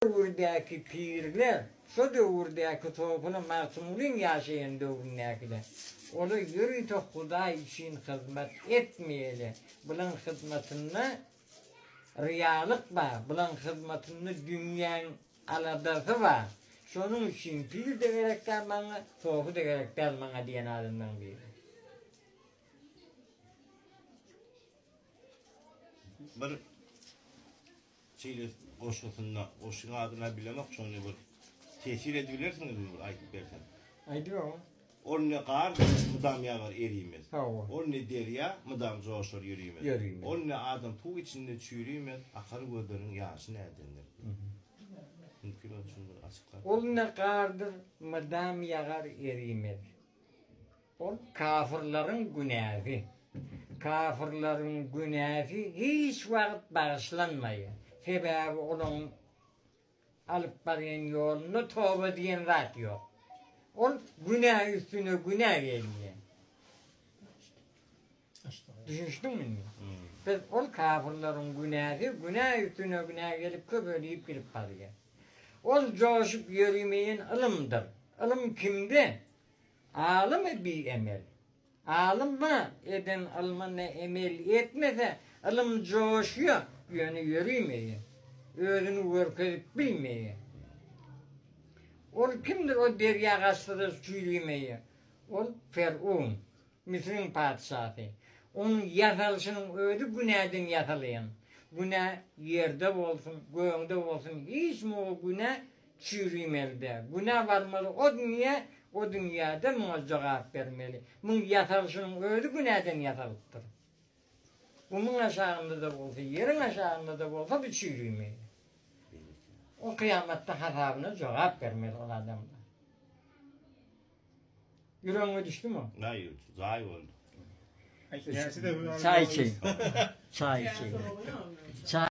döwürdäki pirler, şo döwürdäki topuna Magtymgulyň ýaşaýan döwründäkiler. Olar ýörite Hudaý üçin hyzmat etmeýärler. Bulaň hyzmatynda ryýalyk bar, bulaň hyzmatynda dünýäň aladasy bar. Şonuň üçin pir-de gerek däl maňa, topy-da gerek däl maňa diýen adamlaryň biri. Bir. Şeýle goşgusynda goşgyň adyna bilemok şony bir tesir edibilersiňizmi bir aýdyp bersem. Aýdyberň. Ol ne gar mydam ýagar erimez. Hawa. Ol ne derýa mydam joşar ýörimez. Ýörimez. Ol ne adam suw içinde çürimez, akar gözleriň ýaşy nädendir. Mümkin ol üçin bir açyklap. Ol ne gardyr mydam ýagar erimez. Ol kafyrlaryň günäsi. Kafyrlaryň günäsi hiç wagt bagyşlanmaýar. Sebäbi olaň alyp barýan ýolunda toba diýen zat ýok. Ol günä üstüne günä gelýär. Düşünişdiňmi indi? Biz ol kafyrlaryň günäsi günä üstüne günä gelip köpelip gidip barýar. Ol joşup ýörimeýän ylymdyr. Ylym kimde? Alymy biemel. Alym ba, eden ylmyna emel etmese, ylym joşýa, ýöne ýörimeýä. Özüni görkezip bilmeýä. Ol kimdir o derýa gaçsa-da çüýrimeýä. Ol Ferun, Müsüriň patyşasy. Onuň ýasalyşynyň özi günäden ýasalýan. Günä ýerde bolsun, gögňde bolsun, hiç muňa günä Çürimeli-dä. Günä barmaly o dünýä, o dünýä-de muňa jogap bermeli. Muň ýasalyşynyň özi günäden ýasalypdyr. Gumuň aşagynda-da bolsa, ýeriň aşagynda-da bolsa bu çürimeli. O kyýamatda hasabyna jogap bermeli ol adamlar. Ýüregiňe düşdümi? Naý, zaý boldy. Çaý içeýin. Çaý içeýin.